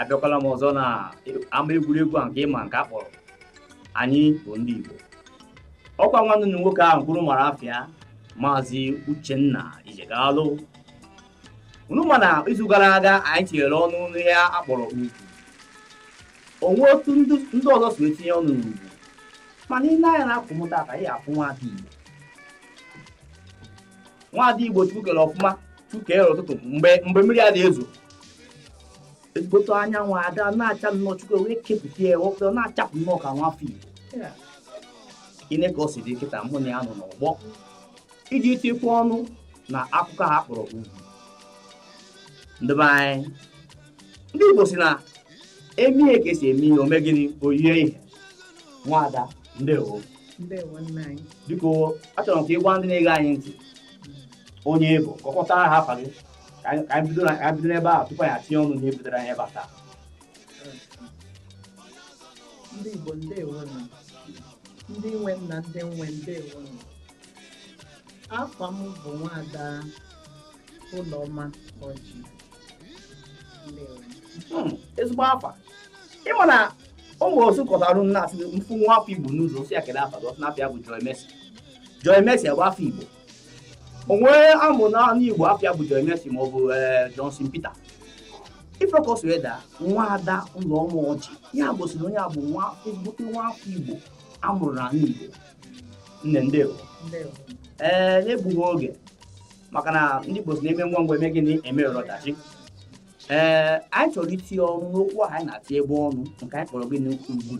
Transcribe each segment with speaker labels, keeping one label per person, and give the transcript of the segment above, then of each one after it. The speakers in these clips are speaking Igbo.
Speaker 1: abịakwala m ọzọ na ama egwuregwu a nke ịma nke a kpọrọ anyị bụ ndị Igbo ọkwa nwanne unu nwoke ahụ kwuru mara afịa maazị Uchenna Ijegalụ unu ma na izu gara aga anyị tinyere ọnụ n'ihe a kpọrọ ugwu o nwe otu ndị ọzọ si etinye ọnụ n'ugwu mana i nee anya n'akụkụ m taa ka ị afụ nwaada Igbo nwaada igbo chukwu kere ọfụma chukwu kere ụtụtụ mgbe mgbe mmiri a na-ezo ezigbote anyanwụ ada na-acha nnọọ chukwu wee kepụta ya wepụta na-achapụ nnọọ ka nwa afọ igbo i nee ka o si dị kịta mụ na ya nọ n'ọgbọ iji tikwa ọnụ na akụkọ ha kpọrọ ugwu ndị be anyị ndị igbo sị na e mee ihe ka esi eme ihe o mee gịnị o yie ihe nwaada ndewo
Speaker 2: biko achọrọ m ka ị
Speaker 1: gwa ndị na-ege anyị ntị onye ị bụ ka ọ kpọtara ha afa gị ka anyị bido n'ebe a tupu anyị etinye ọnụ n'ihe butere anyị ebe a taa ndị
Speaker 2: Igbo ndewo ndị nwe m na ndị m nwe ndewo afa m bụ nwaada Ụlọma Ọjị
Speaker 1: Hmm, ezigbo afa ị ma na ụmụ osu kọtara nna a sị m fụ nwa afọ igbo n'ụzọ sị ya kele afa gị ọ sị n'afa ya bụ Joy Mercy Joy Mercy bụ afa igbo onye a mụ n'anị igbo afa ya bụ Joy Mercy ma ọ bụ eh, Johnson Peter ị fụ ka o si wee daa nwaada Ụlọma Ọjị ya gosiri onye a bụ nwa ezigbote nwa afọ igbo a mụrụ n'ala igbo nne ndewo ee eh, n'egbughị oge maka na ndị Igbo sị na e mee ngwa ngwa e mee gịnị eme ọdachi ee anyị chọrọ itinye ọnụ n'okwu ahụ anyị na-etinyebu ọnụ nke anyị kpọrọ gịnị ugwu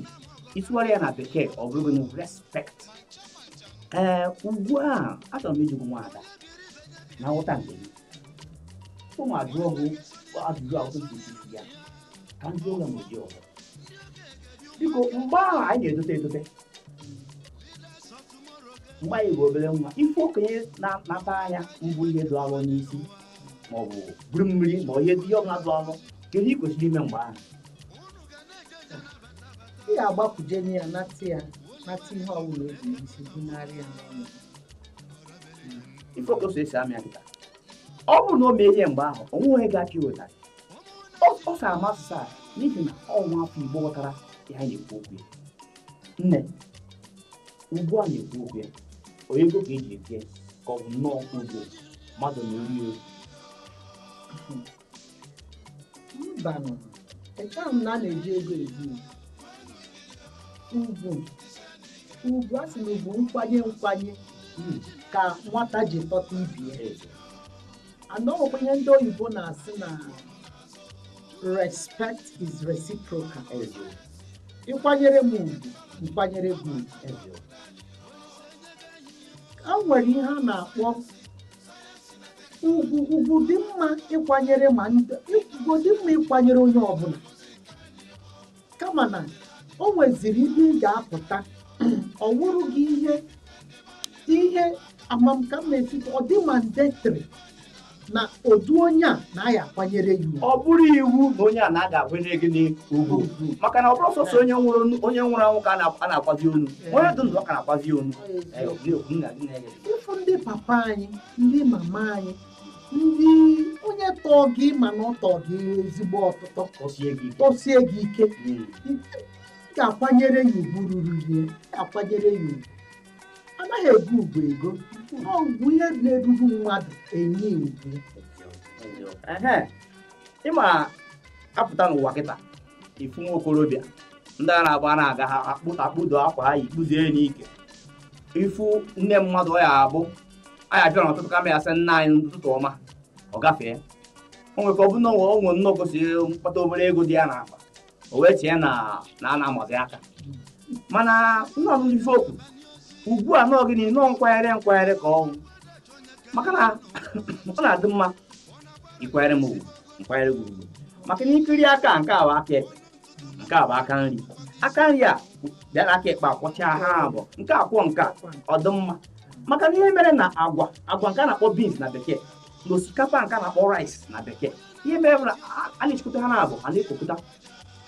Speaker 1: ị tụgharịa ya na bekee ọ bụrụ gịnị respect ee ugwu a achọrọ m ịjụ gị nwaada na nghọta nke gị mụ ajụọ gị ajụjụ ahụ tupu isi ya ka ndị ụlọ m dị ọzọ biko mgbe ahụ anyị na-etote etote mgbe anyị bụ obere nwa ị fụ okenye na-anata nya bu ihe dị alọ n'isi ma ọ bụ buru mmiri ma ihe dị ihe ọbụla dị alọ kedu ihe i kwesịrị ime mgbe ahụ
Speaker 2: ị ga-agbakwuje nye ya nata ya nata ihe ọbụla o bu n'isi
Speaker 1: bunara ya n'ụnọ ị fụ okenye so esi amị akịta ọ bụrụ na o mee ihe mgbe ahụ o nwe onye ga-aka iweta ọ sa amasị sa n'ihi na ọ nwa afọ igbo ghọtara ihe anyị na-ekwu okwu ya nne ugwu anyị na-ekwu okwu ya onye ego ka eji eke ka ọ bụ nnọọ ugwu mmadụ na eri ego
Speaker 2: mbanụ echeghị m na a na-eji ego ebu ugwu ugwu a sị na ugwu nkwanye nkwanye hmm. ka nwata ji tota ibie anọghịkwa ihe ndị oyibo na-asị na respect is reciprocal ị kwanyere m ugwu m kwanyere gị ugwu kama e nwere ihe a na-akpọ ugwu ugwu dị mma ịkwanyere mmadụ ugwu dị mma ịkwanyere onye ọbụla kama na o nweziri ebe ị ga-apụta ọ wụrụ gị ihe ihe amam ka m na-esi ọ dị mandatory na ụdị onye a na a ya-akwanyere ya ugwu. ọ bụrụ
Speaker 1: iwu na onye a na a ga-akwanyere gị n'ugwu maka na ọ bụrọ sọsọ onye nwụrụ onye nwụrụ anwụ ka a na- a na-akwazi onu onye dị ndụ ka a na-akwazi onu Ọ eziokwu. Eh, ọ bụ na-ekwu, nna gị
Speaker 2: na-enye gị. ị fụ ndị papa anyị ndị mama anyị ndị onye tọọ gị ma na ọ tọọ gị ezigbo ọtụtọ tọsie gị ike. tọsie gị ike Mm. ị ga-akwanyere ya ugwu ruru ya ị ga-akwanyere ya ugwu a naghị ego ugwu ego ọ ugwu ihe na-eruru mmadụ e nye ya ugwu
Speaker 1: Ehe. ị ma apụta n'ụwa kịta ị fụ nwa okorobịa ndị a na-agba a na-aga ha akpụ- akpụdo akwa ha kpụdo ya n'ike ị fụ nne mmadụ ọ ya-abụ anyị abịa n'ụtụtụ kama ya asị nna anyị ụtụtụ ọma ọ gafee o nwere ike ọ bụ na o nwere nnọọ gosiri mkpata obere ego dị ya n'akpa o wee chee na na a na-amazi aka mana nna m ife okwu ugwu a na ọ gịnị na ọ nkwanyere nkwanyere ka ọ wụ maka na ọ na-adị mma ị kwanyere m ugwu m kwanyere gị ugwu maka na ị kiri aka nke a wụ aka ekpe nke a bụ aka nri aka nri a bịara aka ekpe akwọchaa ha abụọ nke a kwọọ nke a ọ dị mma maka na ihe mere na agwa agwa nke a na-akpọ beans na bekee na osikapa nke a na-akpọ rice na bekee ihe mere bụ na a- a na-achịkọta ha n'abụọ ha na-ekopụta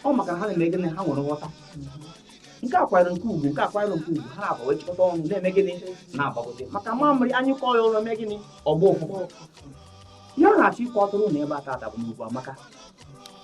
Speaker 1: ọ maka na ha na-eme gịnị ha nwere nghọta nke a kwanyere nke a ugwu nke a kwanyere nke a ugwu ha n'abụọ wee chịkọta ọnụ na-eme gịnị na-agbagote maka mamịrị a nyụkọọ ya ọnụ mee gịnị ọ gbọọ ụfụfụ ihe a na-achọ ịkọtụrụ n'ebe a tata bụ na ugwu amaka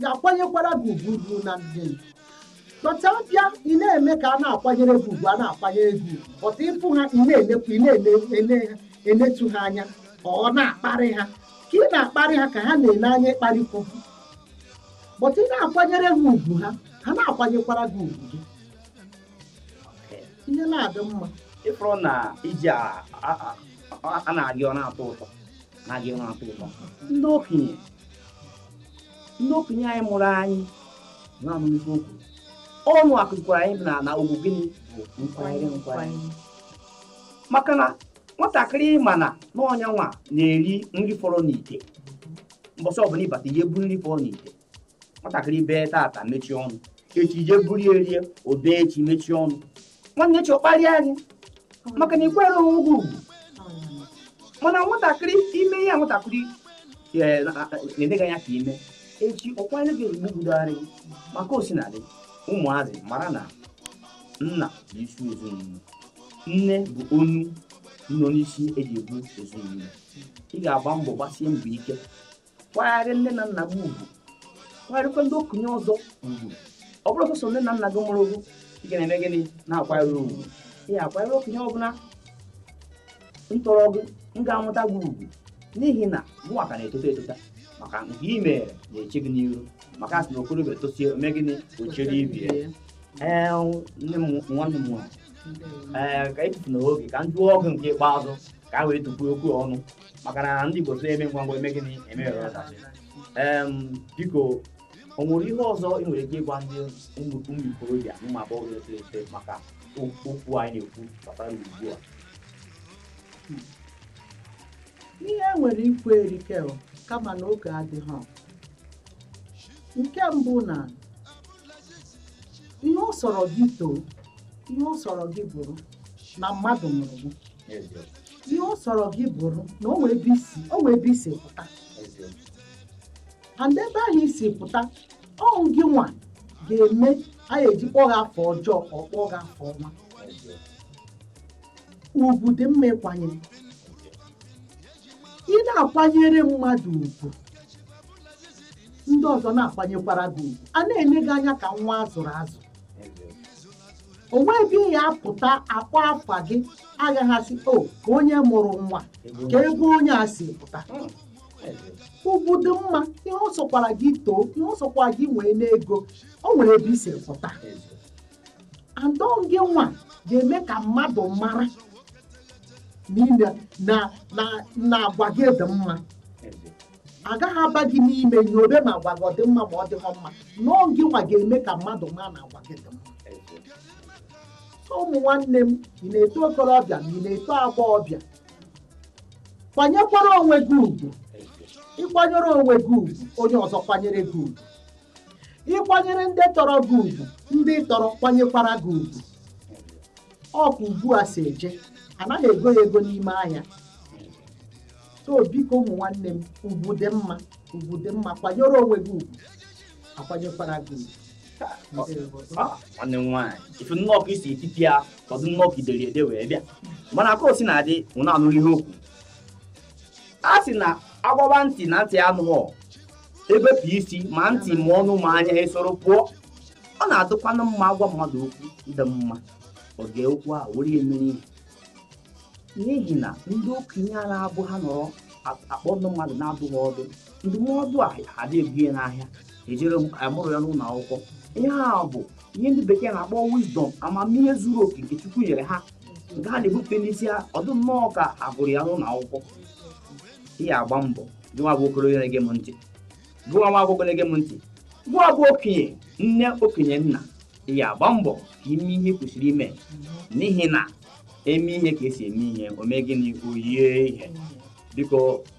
Speaker 2: ga-akwanyekwara gị ugwu ugwu na ndị but abịa ị na-eme ka a na-akwanyere gị ugwu a na-akwanyere gị ugwu but ị fụ ha ị na-enekwu ị na-ene ha enetu ha anya or na-akparị ha ka ị na-akparị ha ka ha na-ele anya ịkparịkwu gị but ị na-akwanyere ha ugwu ha ha na-akwanyekwara gị ugwu gị ihe na-adị mma ịfụrụ na
Speaker 1: iji a na-agị ọ na-atọ ụtọ na-agị ọ na-atọ ụtọ ndị okenye ndị okenye anyị mụrụ anyị na-amụlite okwu ọnụ akụzikwara anyị na na ugwu gịnị bụ nkwanyere nkwanyere maka na nwatakịrị ma na ọ onye nwa na-eri nri fọrọ n'ite mbọsị ọbụla ị bata ị je buru nri fọrọ n'ite nwatakịrị bee tata mechie ọnụ echi ị je buru ya erie o bee echi mechie ọnụ nwanne echi ọ kparịa anyị maka na ị kwanyere onwe gị ugwu mana nwatakịrị i mee ihe nwatakịrị na-ene gị anya ka i mee echi ọ kwanye gị ozugbo budogharị gị maka osinadị ụmụazị mara na nna bụ isi ezinụlọ nne bụ onu nọ n'isi eji ebu ezinụlọ ị ga-agba mbọ gbasie mbọ ike kwanyere nne na nna gị ugwu kwanyerekwa ndị okenye ọzọ ugwu ọ bụrọ sọsọ nne na nna gị mụrụ gị ị ga na-eme gịnị na-akwanyere ugwu ị ga-akwanyere okenye ọbụla tọrọ gị m ga-amụta gị ugwu n'ihi na mụnwa ka na-etota etota maka nke ị mere na-eche gị n'iru maka a sị na okorobịa tosie o mee gịnị o chere ibe ya ee nne m nwanne m nwaanyị ka etufuna oge ka m jụọ gị nke ikpeazụ ka a wee tupu okwu ọnụ maka na ndị Igbo tụrụ emee ngwa ngwa emee gịnị emeghara ọdachi biko o nwere ihe ọzọ ị nwere ike ịgwa ndị ụmụ ikorobịa na ụmụ agbọghọ na-etolite eto maka okwu anyị na-ekwu gbasara ugbu a
Speaker 2: ihe e nwere ikwu erike kama na oge adịghị nke mbụ na ihe ọ sọrọ gị too ihe ọ sọrọ gị bụrụ na mmadụ mụrụ gị ihe ọ sọrọ gị bụrụ na o nwee ebe i si pụta and ebe ahụ i si pụta ọ wụ gị nwa ga-eme anyị eji kpọọ gị afa ọjọọ ka ọ kpọọ gị afa ọma ugwu dị mma ịkwanyere ị na-akwanyere mmadụ ugwu ndị ọzọ na-akwanyekwara gị ugwu a na-ene gị anya ka nwa a zụrụ azụ o nwee ebe ị ya-apụta a kpọọ afa gị agaghị asị o ka onye mụrụ nwa ka ebe onye a si pụta ugwu dị mma ihe ọ sọkwara gị too ihe ọ sọkwara gị nwee n'ego o nwere ebe i si pụta and ọ gị nwa ga-eme ka mmadụ mara na agwa gị dị mma agaghị aba gị n'ime nyobe ma agwa gị ọ dị mma ma ọ dịghọ mma na ọ gị nwa ga-eme ka mmadụ ma na agwa gị dị mma so ụmụ nwanne m ị na-eto okorobịa ma ị na-eto agbọghọbịa kwanyekwara onwe gị ugwu ịkwanyere onwe gị ugwu onye ọzọ kwanyere gị ugwu ịkwanyere ndị tọrọ gị ugwu ndị tọrọ kwanyekwara gị ugwu ọ ka ugwu a si eje anaghị ego ya ego n'ime ahịa so biko ụmụ nwanne m ugwu dị mma ugwu dị mma kwanyere onwe gị ugwu akwanyekwara gị
Speaker 1: ugwu nwanne m nwaanyị ifu nnọọ ka isi etiti ya ọ dị nnọọ ka i dere ede wee bịa mana ka o si na-adị unu na-anụ ihe okwu a sị na agwaba ntị na ntị anụghọ ebepụ isi ma ntị ma ọnụ ma anya esoro pụọ ọ na-adịkwanụ mma agwa mmadụ okwu dị mma o ji okwu a were mere ihe n'ihi na ndị okenye a na-abụ ha nọrọ a- akpọ ndị mmadụ na-adụ ha ọdụ ndụmọdụ a adị ebu ya n'ahịa ejere amụrụ ya n'ụlọ akwụkwọ ihe a bụ ihe ndị bekee na-akpọ wisdom amamihe zuru oke nke chukwu nyere ha nke ha na-ebute n'isi ha ọ dị nnọọ ka a gụrụ ya n'ụlọ akwụkwọ ị ya agba mbọ gụwa bụ okorobịa na-ege m ntị gụwa nwa agbọghọ na-ege m ntị gụwa bụ okenye nne okenye nna ị ya agba mbọ ka ime ihe ị kwesịrị ime n'ihi na eme ihe ka esi eme ihe o mee gịnị o yie ihe biko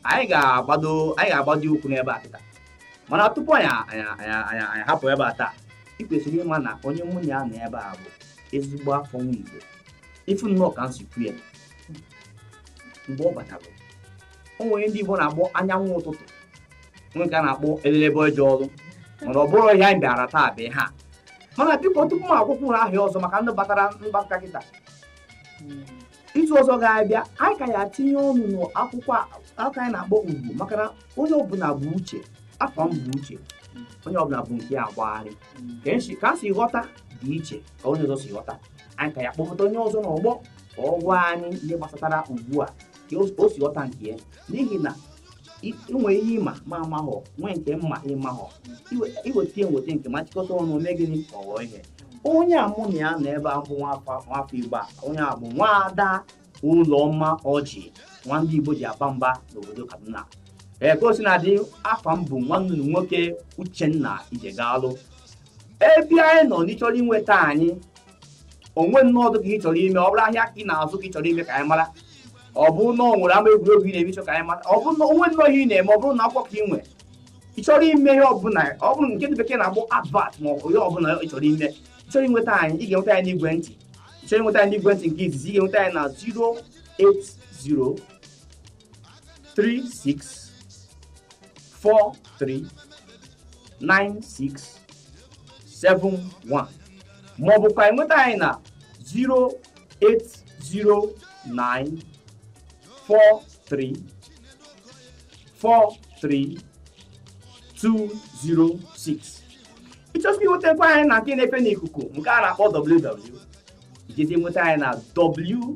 Speaker 1: anyị ga-agbado anyị ga-agbado ụkwụ n'ebe a kịta mana tupu anyị anyị hapụ ebe a taa ị kwesịrị ịma na onye mụ na ya nọ ebe a bụ ezigbo afọ nwa Igbo ifu nnọọ ka m si kwuo ya mgbe ọ batara o nwere ndị Igbo na-akpọ anyanwụ ụtụtụ nwee nke a na-akpọ elelebe eje ọrụ mana ọ bụrọ ihe anyị bịara taa bụ ihe a mana biko tupu m akpọkwuo aha ya ọzọ maka ndị batara mbata kịta izu ọzọ ga-abịa anyị ka ya tinye ọnụ n'okwu a anyị na-akpọ ugwu maka na onye ọbụla bu uche afa m bụ uche onye ọbụla bu nke ya agagharị ka e si- ka a si ghọta dị iche ka onye ọzọ si ghọta anyị ka ya kpọpụta onye ọzọ n'ọgbọ ka ọ gwa anyị ihe gbasatara ugwu a ka o- o si ghọta nke ya n'ihi na nwee ihe ị ma m amahọ nwee nke m ma ị mahọ i weta ya m weta nke m achịkọta ọnụ mee gịnị ka ọ ghọọ ihe onye a mụ na ya nọ ebe a nwafọ nwafọ igbo a onye a bụ nwaada ụlọma ọjị nwa ndị igbo ji aba mba n'obodo kaduna ee ka o si na-adị afa m bụ nwanne unu nwoke uchenna ijegalụ ebe anyị nọ n'ịchọrọ inweta anyị onwe nnọdụ ka ị chọrọ ime ọ bụrụ ahịa ka ị na-azụ ka ị chọrọ ime ka anyị mara ọ bụrụ na o nwere ama egwuregwu ị na-eme chọ ka anyị mata ọ bụrụ na o nwe nnọọ ihe ị na-eme ọ bụrụ na akwụkwọ ka ị nwere ị chọrọ ime ihe ọbụla ọ bụrụ nke ndị bekee na-akpọ advert ma ọ bụ ihe ọbụla ị chọrọ ime ị chọrọ inweta anyị ị ga-enweta anyị n'igwe ntị ị chọrọ inweta anyị n'igwe ntị nke izizi ị ga-enweta anyị na 080 36 43 96 71 ma ọ bụkwa enweta anyị na 08094343206 ị chọzikwa inwetakwa anyị na nke na-efe n'ikuku nke a na-akpọ www ijezi nweta anyị na w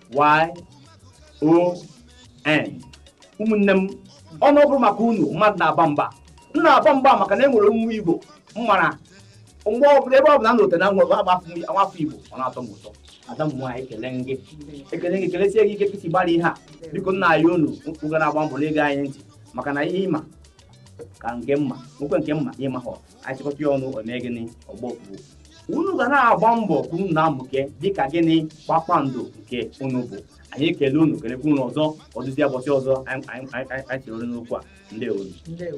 Speaker 1: y o n ụmụnne m unu ọ bụrụ maka unu mmadụ na-aba mba m na-aba mba maka na e nwere nwa igbo m mara mgbe ọbụla ebe ọbụla m lote na nwa afọ igbo ọ na-atọ m ụtọ ada m nwaanyị ekele gị ekele gị kelesie gị ike ka i si gbara ihe a biko m na-ayọ unu unu ga na-agba mbọ na-ege anyị ntị maka na ihe ị ma ka nke m ma nwekwe nke m ma ị mahọ a chịkọta ya ọnụ o mee gịnị o bukwuo unu ga na-agba mbọ ka unu na-amụke dịka gịnị kpakpando nke unu bụ anyị ekele unu kelekwa unu ọzọ ọ dịzie ụbọchị ọzọ anyị anyị- anyị- anyị- anyị chere n'okwu a ndewonụ ndewo